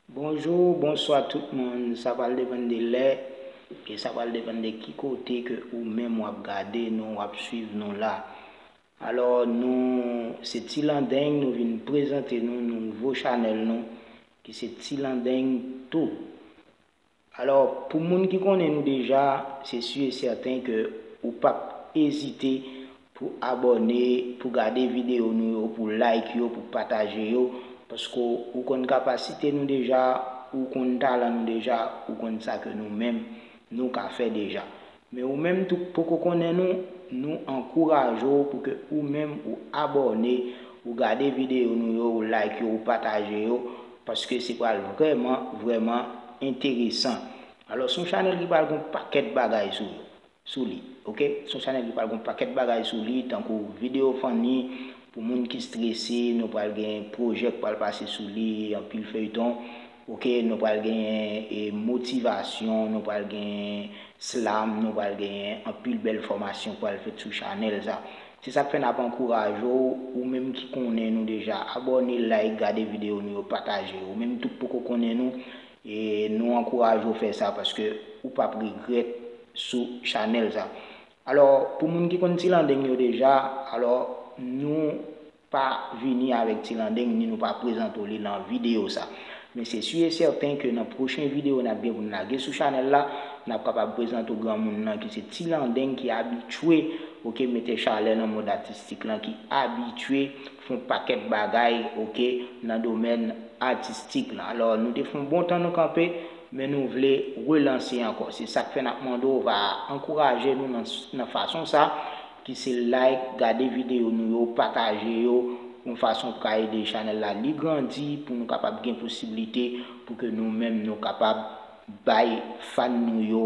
Bonjou ou bonswa tout moun sa pral depann de lè e sa pral depann de ki kote ke ou menm wap gade nou wap swiv nou la alò nou se tilandeng nou vin prezante nou nouvo chanèl nou ki se tilandeng tou Alò, pou moun ki konnen nou deja, se su e sèten ke ou pap ezite pou abòne, pou gade videyo nou yo, pou like yo, pou pataje yo, paske ou konn kapasite nou deja, ou konn talan nou deja, ou konn sa ke nou menm nou ka fè deja. Men ou menm tou k poko konnen nou, nou ankouraje w pou ke ou menm ou abòne, ou gade videyo nou yo, ou like yo, ou pataje yo, paske se pral vrèman, vrèman enteresan. Alò, s on chanèl ki pral gon pakèt bagay sou yo, sou li, ok. S on chanèl ki pral gon pakèt bagay sou li, tankou videyo fanni, pou moun ki strese, nou pral gen pwojè k pral pase sou li, anpil feyton, Ok nou pral genyen e motivasyon nou pral genyen slam nou pral genyen anpil bèl fòmasyon k pral fèt sou chanèl sa se sak fè nap ankouraje w ou menm ki konnen nou deja abòne like gade videyo nou yo pataje ou menm tou k poko konnen nou e nou ankouraje w fè sa paske ou pap regrèt sou chanèl sa alò pou moun ki konn tilandeng yo deja alò nou. Pa vini avèk ti landeng ni nou pa prezante w li nan videyo sa. Men se su e sèten ke nan pwochen videyo n ap gen pou n lage sou chanèl la, n ap kapab prezante w granmoun nan ki se ti landeng ki abitye ok mete chalè nan mond atistik lan, ki abitye fè yon pakèt bagay ok nan domèn atistik lan. Alò nou te fè yon bon tan nou kanpe, men nou vle relanse ankò. Se sa k fè n ap mande w va ankouraje nou nan fason sa. ki se like, gade videyo nou yo, pataje yo, yon fason pou ka ede chanèl la li grandi pou nou kapab gen posiblite pou ke nou menm nou kapab bay fan nou yo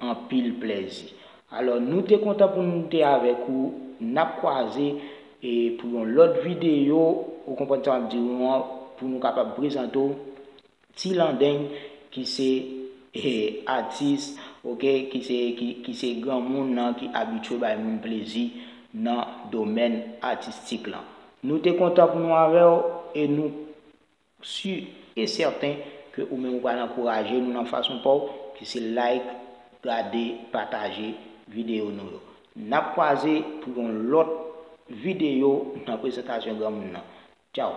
anpil plèzi. Alò nou te kontan pou nou te avèk ou, nap kwaze e pou yon lòt videyo, ou konprann sa map di ou an, pou nou kapab prezante w Ti landeng ki se atis ok ki se ki se granmoun nan ki abitye bay moun plezi nan domèn atistik lan. Nou te kontan pou nou avè w e nou si e sèten ke ou menm ou pral ankouraje nou nan fason pa w ki se like, gade, pataje videyo nou yo. N ap kwaze pou yon lòt videyo nan prezantasyon granmoun nan. Tchaw!